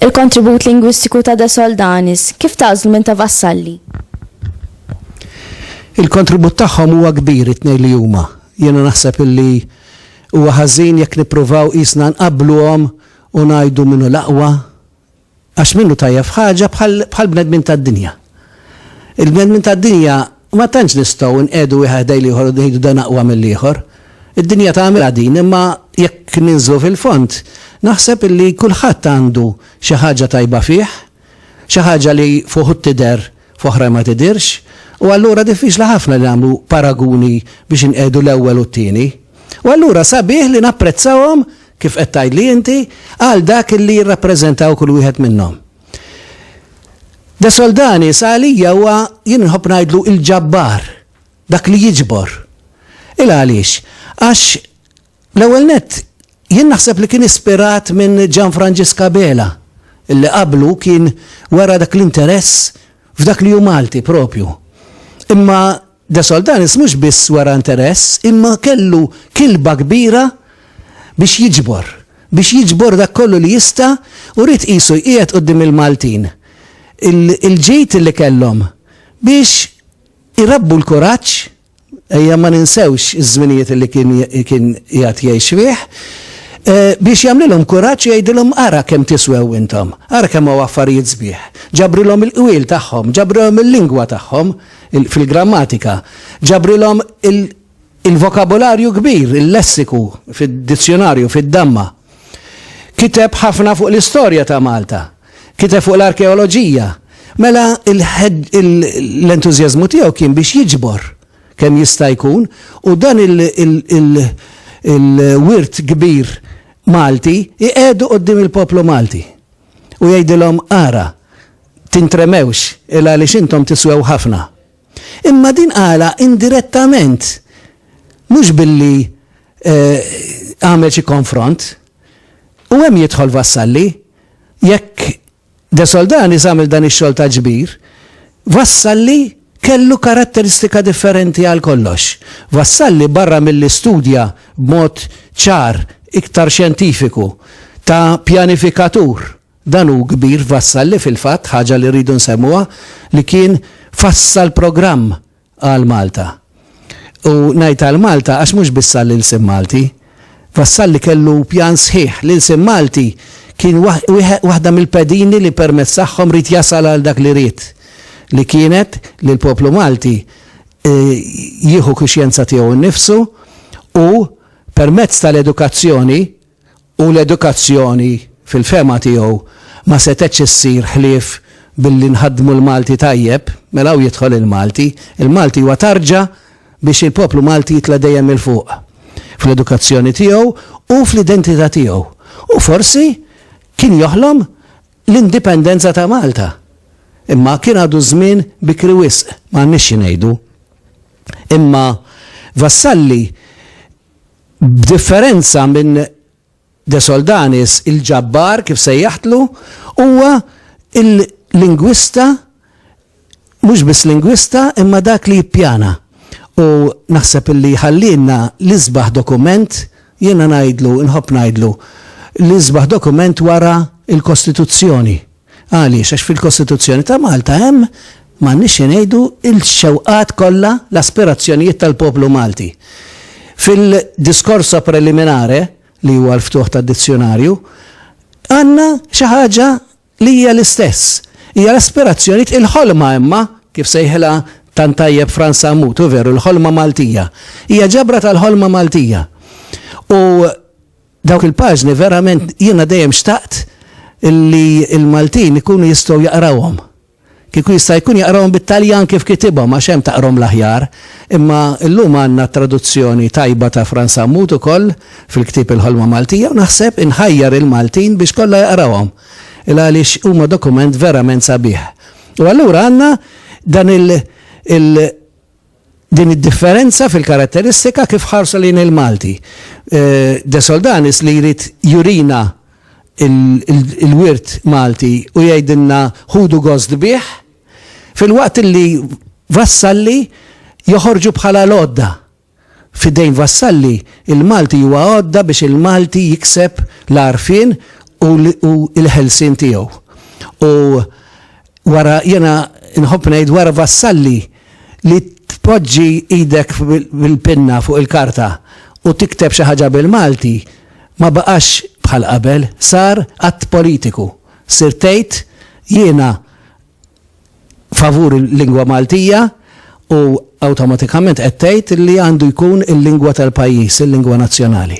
Il-kontribut lingwistiku ta' De Soldanis, kif tażlu minn ta' Vassalli? Il-kontribut tagħhom huwa kbir it-tnejn li huma. Jiena naħseb illi huwa ħażin jekk nippruvaw qisna nqabbluhom u ngħidu min hu l-aqwa, Għax minnu tajjeb f'ħaġa bħall-bnedmin tad-dinja. Il-bnedmin tad-dinja ma tantx nistgħu nqiegħdu wieħed ħdejn l-ieħor u ngħidu dan aqwa mill-ieħor. Id-dinja tagħmilha din imma jekk ninżlu fil-fond naħseb illi kulħadd għandu xi ħaġa tajba fih, xi ħaġa li f'uħud tidher f'oħrajn ma tidhirx u allura diffiċli ħafna li nagħmlu paraguni biex inqiegħdu l-ewwel u t-tieni. U allura sabiħ li napprezzahom, kif qed tgħidli inti, għal dak li jirrappreżentaw kull wieħed minnhom. De Soldani sa għalija huwa jien nħobb ngħidlu il-ġabbar, dak li jiġbor. Il għaliex, għax l-ewwel nett jien naħseb li kien ispirat minn Gian Franġiska Bela, illi qablu kien wara dak l-interess f'dak li hu Malti propju. Imma De Soldanis mhux biss wera interess imma kellu kilba kbira biex jiġbor, biex jiġbor dak kollu li jista' u ried qisu jqiegħed quddiem il-Maltin il-ġid li kellhom biex irabbu l-kuraġġ, ejja ma ninsewx iż-żminijiet li kien qiegħed jgħix fih, biex jagħmlilhom kuraġġ u jgħidilhom ara kemm tiswew intom, ara kemm hawn affarijiet sbieħ. Ġabrilhom il-qwiel tagħhom, ġabrilhom il-lingwa tagħhom. fil-grammatika, ġabrilhom il-vokabolarju kbir, il-lessiku fid-dizzjonarju, fid-damma. Kiteb ħafna fuq l-istorja ta' Malta, kiteb fuq l-arkeoloġija. Mela l-entużjażmu tiegħu kien biex jiġbor kemm jista' jkun u dan il-wirt kbir Malti jqiegħdu quddiem il-poplu Malti u jgħidilhom ara, tintremewx, il-għaliex intom tiswew ħafna. Imma din qalha indirettament, mhux billi għamel xi konfront. U hemm jidħol Vassalli. Jekk De Soldanis għamel dan ix-xogħol ta' ġbir, Vassalli kellu karatteristika differenti għal kollox. Vassalli barra milli studja b'mod ċar, iktar xjentifiku, ta' pjanifikatur, Dan hu kbir Vassalli fil-fatt, ħaġa li rridu nsemmuha, li kien fassal programm għal Malta. U ngħid għal Malta għax mhux biss għall-ilsien Malti. Vassalli kellu pjan sħiħ. L-ilsien Malti kien waħda mill-pedini li permezz tagħhom rid jasal għal dak li ried li kienet li l-poplu Malti e, jieħu kuxjenza tiegħu nnifsu u permezz tal-edukazzjoni u l-edukazzjoni fil-fehma tiegħu ma setgħetx issir ħlief billi nħaddmu l-Malti tajjeb, mela hawn jidħol il-Malti, il-Malti huwa tarġa biex il-poplu Malti jitla' dejjem 'il fuq fl-edukazzjoni tiegħu u fl-identità tiegħu u forsi kien joħlom l-indipendenza ta' Malta. Imma kien għadu żmien bikri wisq, m'għandniex xi ngħidu. Imma Vassalli B'differenza minn De Soldanis, il-ġabbar, kif sejjaħtlu, huwa l-lingwista, mhux biss lingwista, imma dak li jippjana. U naħseb li jħallielna l-isbaħ dokument, jiena ngħidlu, inħobb ngħidlu, l-isbaħ dokument wara l-Kostituzzjoni. Għaliex? Għax fil-Kostituzzjoni ta' Malta hemm, m'għandniex xi ngħidu, il-xewqat kollha, l-aspirazzjonijiet tal-poplu Malti. Fil-discorso preliminare, li huwa l-ftuħ tad-dizzjunarju, għandna xi ħaġa li hija l-istess. Hija l-aspirazzjonijiet, il-ħolma imma, kif sejħilha tant tajjeb Frans Sammut, hu veru, l-ħolma Maltija. Hija ġabra tal-ħolma Maltija. U. Dawk il-paġni verament jiena dejjem xtaqt li l-Maltin ikunu jistgħu jaqrawhom. Kieku jista' jkun jaqrawhom bit-Taljan kif kitibhom għax hemm taqrhom l-aħjar. Imma llum għandna t-traduzzjoni tajba ta' Frans Sammut ukoll fil-ktieb Il-Ħolma Maltija u naħseb inħajjar il-Maltin biex kollha jaqrawhom il-għaliex huma dokument verament sabiħ. U allura għandna dan il, il, Din id-differenza fil-karatteristika kif ħarsu lejn il-Malti. De Soldanis li jrid jurina l-wirt Malti u jgħidilna ħudu gost bih, filwaqt li Vassalli joħorġu bħala l-għodda. F'idejn Vassalli, il-Malti huwa għodda biex il-Malti jikseb l-għarfien u l-ħelsien tiegħu. U. Wara, jiena nħobb ngħid wara Vassalli li tpoġġi idek bil-pinna fuq il-karta u tikteb xi ħaġa bil-Malti ma baqax bħal qabel, sar att politiku. Sirt tgħid jiena favur il-lingwa Maltija u awtomatikament qed tgħid li għandu jkun il-lingwa tal-pajjiż, il-lingwa nazzjonali.